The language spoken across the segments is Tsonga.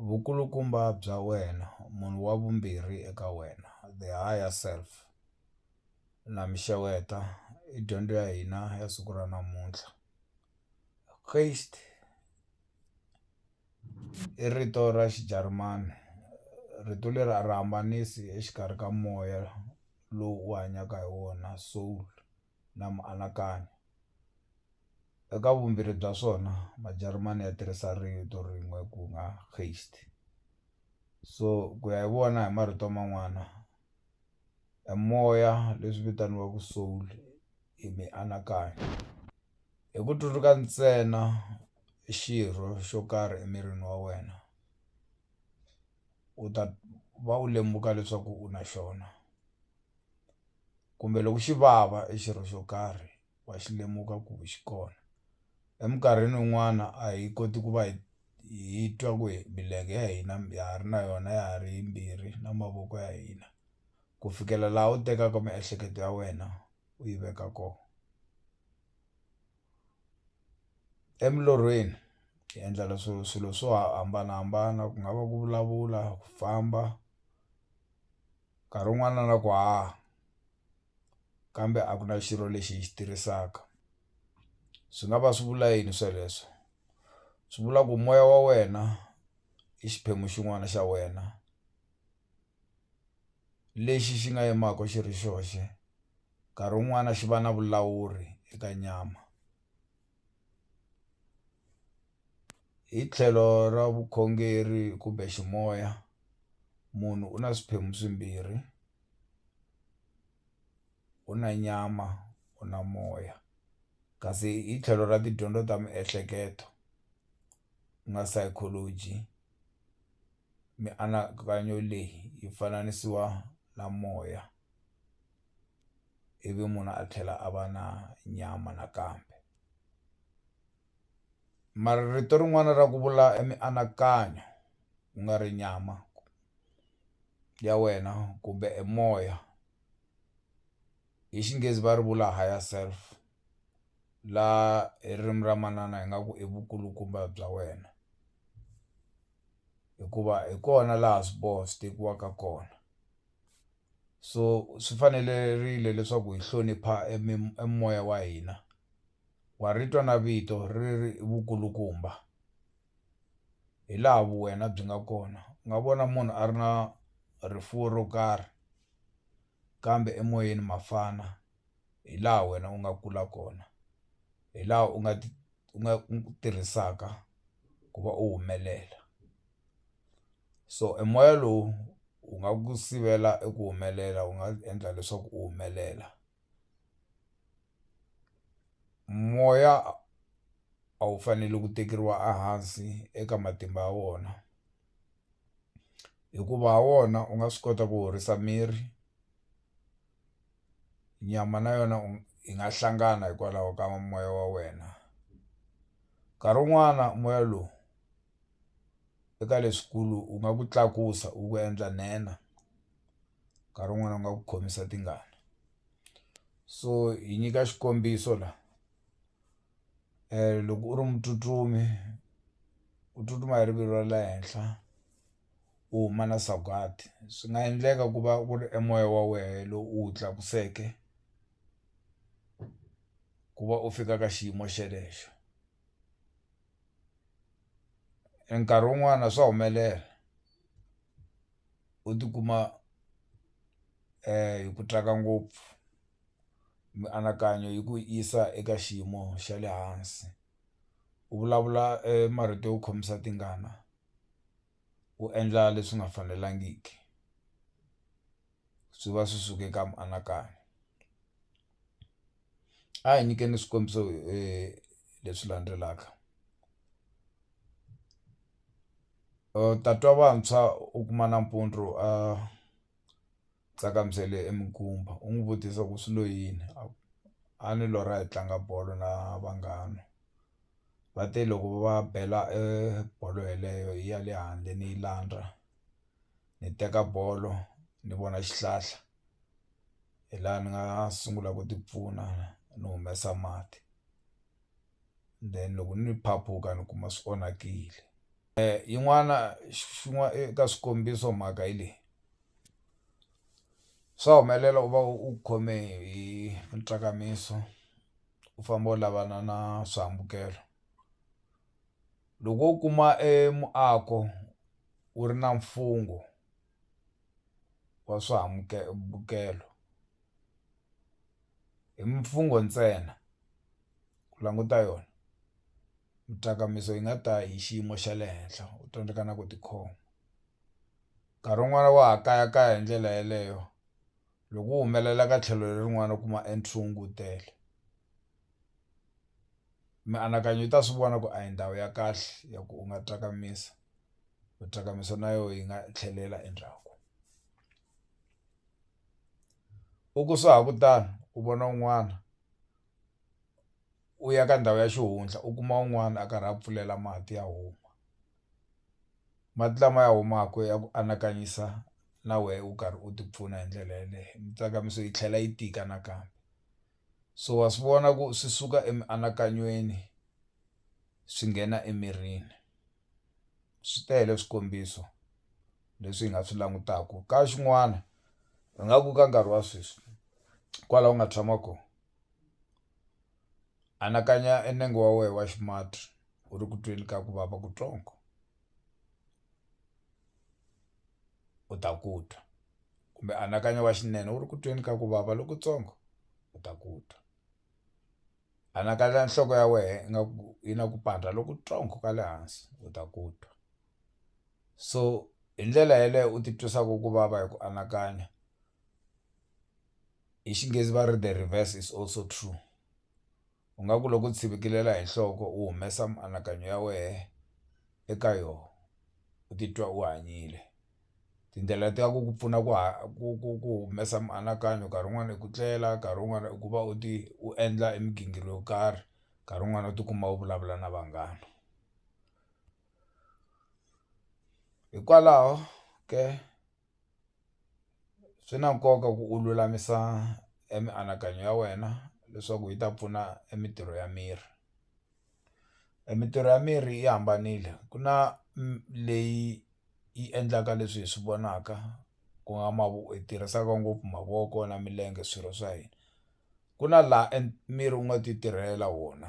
Vukulukumba bya wena, munhu wa vumbirhi eka wena, the higher self, na mi xeweta i dyondzo ya hina ya siku ra namuntlha i rito ra Xijarimani rito leri a ri hambanisi exikarhi ka moya lowu u hanyaka hi wona soul. na mianakanyo. Eka vumbirhi bya swona Majarimani ya tirhisa rito rin'we ku nga Geist. So ku ya hi vona hi marito man'wana e moya leswi vitaniwaka soul i mianakanyo hi ku tsundzuka ntsena xirho xo karhi emirini wa wena u ta va u lemuka leswaku u na xona. kumbe loko xi vava e xirho xo karhi wa xi lemuka ku xi kona eminkarhini yin'wana a hi koti ku va hi hi twa ku hi milenge ya hina ya ha ri na yona ya ha ri yimbirhi na mavoko ya hina ku fikela laha u tekaka miehleketo ya wena u yi veka kona emilorhweni hi endla leswo swilo swo hambanahambana ku nga va ku vulavula ku famba. nkarhi wun'wana na ku haha kambe a ku na xirho lexi hi xi tirhisaka swi nga va swi vula yini sweleswo swi vula ku moya wa wena i xiphemu xin'wana xa wena lexi xi nga yimaka xi ri xoxe nkarhi wun'wani xi va na vulawuri eka nyama. Hi tlhelo ra vukhongeri kumbe ximoya munhu u na swiphemu swimbirhi u na nyama u na moya kasi hi tlhelo ra tidyondzo ta miehleketo ku nga psychology mianakanyo leyi yi fananisiwa na moya. ivi munhu a tlhela a va na nyama nakambe mara rito rin'wana ra ku vula i mianakanyo ku nga ri nyama ya wena kumbe e moya hi xinghezi va ri vula higher self laha hi ririmi ra manana hi nga ku i vukulukumba bya wena hikuva hi kona laha swiboho swi tekiwaka kona. so swi fanelerile leswaku hi hlonipha e e moya wa hina wa ri twa na vito ri ri vukulukumba hi laha vu wena byi nga kona u nga vona munhu a ri na rifuwo ro karhi kambe emoyeni mafana hi laha wena u nga kula kona hi laha u nga u nga tirhisaka ku va u humelela. so e moya lowu wu nga ku sivela eku humelela wu nga endla leswaku u humelela moya a wu fanele ku tekeriwa a hansi eka matimba ya wona hikuva ha wona u nga swi kota ku horisa miri nyama na yona u yi nga hlangana hikwalaho ka moya wa wena nkarhi wun'wana moya lowu. eka leswikulu wu nga ku tlakusa wu ku endla nhenha nkarhi wun'wani wu nga ku khomisa tingana so hi nyika xikombiso la loko u ri mutsutsumi u tsutsuma hi rivilo ra le henhla u huma na sagwadi swi nga endleka ku va ku ri e moya wa wehe lowu u wu tlakuseke ku va u fika ka xiyimo xelexo. E nkarhi wun'wana swa humelela u tikuma hi ku tsaka ngopfu mianakanyo yi ku yisa eka xiyimo xa le hansi u vulavula e marito yo khomisa tingana u endla leswi nga fanelangiki. swi va swi suke ka mianakanyo a hi nyikeni swikombiso leswi landzelaka tatwa vantshwa u kuma nampundzu a tsakamisele e minkumba u n'wi vutisa ku swi lo yini a ku a ni lorha hi tlanga bolo na vanghana va te loko va bela bolo yeleyo ya le handle ni yi landza. ni teka bolo ni vona xihlahla hi laha ni nga sungula ku tipfuna ni humesa mati then loko ni phaphuka ni kuma swi onakile yin'wana eka swikombiso mhaka hi leyi swa humelela u va u khome hi mitsakamiso u famba u lavana na swihambukelo. Loko u kuma e muako wu ri na mfungho wa swihambukelo hi mfungho ntsena ku languta yona yi nga ta hi xiyimo xa le henhla u tsandzeka na ku tikhoma nkarhi wun'wani wa ha kayakaya hi ndlela yeleyo. Loko u humelela ka tlhelo lerin'wana u kuma entry wu ngutele mianakanyo yi ta swi vona ku a hi ndhawu ya kahle ya ku u nga tsakamisa u tsakamisa na yoho yi nga tlhelela endzhaku u ku swa ha ku tano u vona un'wana u ya ka ndhawu ya xihundla u kuma un'wana a karhi a pfulela mati ya huma. mati lama ya humaka ya ku anakanyisa na wehe u karhi u tipfuna hi ndlela yeleyo mintsakamiso yi tlhela yi tika nakambe so wa swi vona ku swi suka emianakanyweni swi nghena emirini swi tele swikombiso leswi hi nga swi langutaku ka xin'wana hi nga ku ka nkarhi wa sweswi kwala u nga tshama ko anakanya e nenge wa wehe wa xi mati. u ri ku tweni ka ku vava kutsongo u ta ku twa kumbe anakanya wa xinene u ri ku tweni ka ku vava lokutsongo u ta ku twa anakanya nhloko ya wehe ingaku yi na ku pandza lokutsongo ka le hansi u ta ku twa so hi ndlela yeleyo u ti twisaka ku vava hi ku anakanya hi Xinghezi va ri the reverse is also true. u nga ku loko u tshivikilela hi nhloko u humesa mianakanyo ya wehe eka yona u titwa u hanyile tindlela ta ku ku pfuna ku ku ku ku humesa mianakanyo nkarhi wun'wani i ku tlela nkarhi wun'wani i ku va u ti u endla e migingiriko yo karhi nkarhi wun'wani u tikuma u vulavula na vanghana hikwalaho ke. swi na nkoka ku u lulamisa e mianakanyo ya wena leswaku yi ta pfuna e mintirho ya miri e mintirho ya miri yi hambanile ku na leyi yi endlaka leswi hi swi vonaka ku nga hi tirhisaka ngopfu mavoko na milenge swirho swa hina ku na laha e miri wu nga ti tirhela wona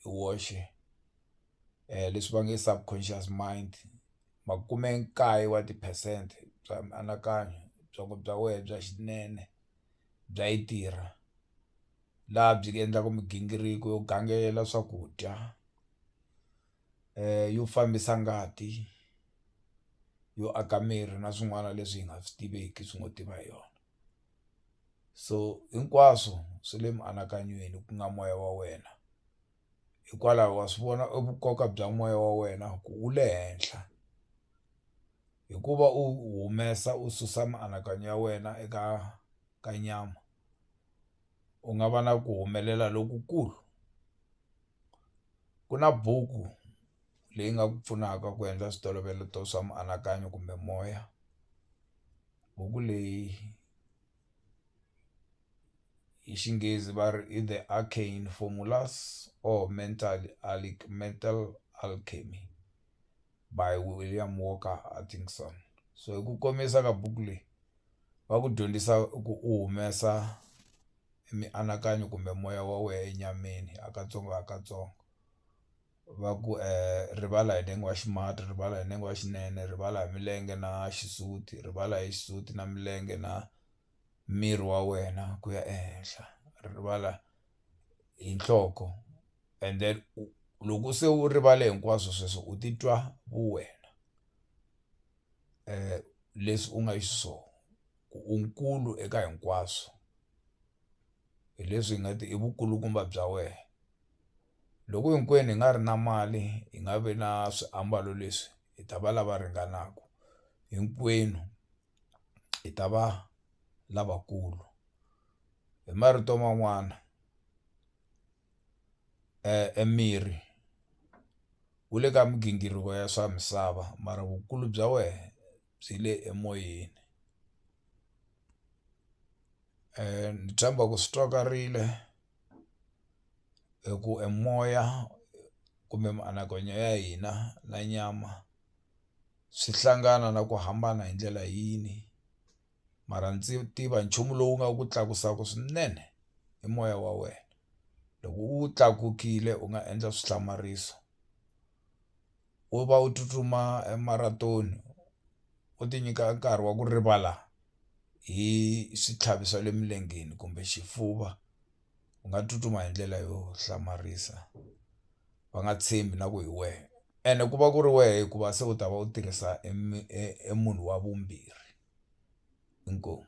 hi woxe. leswi va nge subconscious mind makumenkaye wa ti-percent bya mianakanyo byongo bya wehe bya xinene bya yi tirha laha byi endlaku migingiriko yo gangela swakudya yo fambisa ngati yo aka miri na swin'wana leswi hi nga swi tiveki swi ngo tiva hi yona so hinkwaswo swi le mianakanyweni ku nga moya wa wena. hikwalaho wa swi vona e vukoka bya moya wa wena ku wu le henhla hikuva u humesa u susa mianakanyo ya wena eka ka nyama u nga va na ku humelela lokukulu ku na buku leyi nga ku pfunaka ku endla switolovela swa mianakanyo kumbe moya buku leyi. hi Xinghezi va ri i The Arcane Formulas or Mental Mental Alchemy by William Walker Hutchinson. So hi ku komisa ka buku leyi, va ku dyondzisa ku u humesa mianakanyo kumbe moya wa wena enyameni hi katsongo hi katsongo. va ku rivala hi nenge wa ximatsi rivala hi nenge wa xinene rivala hi milenge na xisuti rivala hi xisuti na milenge na miri wa wena ku ya ehenhla rivala hi nhloko and then u loko se u rivale hinkwaswo sweswo u titwa vu wena leswi u nga xiswona ku u nkulu eka hinkwaswo hi leswi hi nga ti i vukulukumba bya wena. loko hinkwenu hi nga ri na mali hi nga vi na swiambalo leswi hi ta va lava ringanaka hinkwenu hi ta va lavakulu hi marito man'wana e miri wu le ka migingiriko ya swa misava mara vukulu bya wehe byi le emoyeni ni tshemba ku swi twakarile. hi ku e moya kumbe mianakanyo ya hina na nyama swi hlangana na ku hambana hi ndlela yini mara ndzi tiva nchumu lowu nga ku tlakusaka swinene i moya wa wena loko wu tlakukile u nga endla swi hlamariso. wo va u tsutsuma marathon u ti nyika nkarhi wa ku rivala hi switlhavi swa le milengeni kumbe xifuva u nga tsutsuma hi ndlela yo hlamarisa va nga tshembi na ku hi wehe ene ku va ku ri wehe hikuva se u ta va u tirhisa e munhu wa vumbirhi inkomu.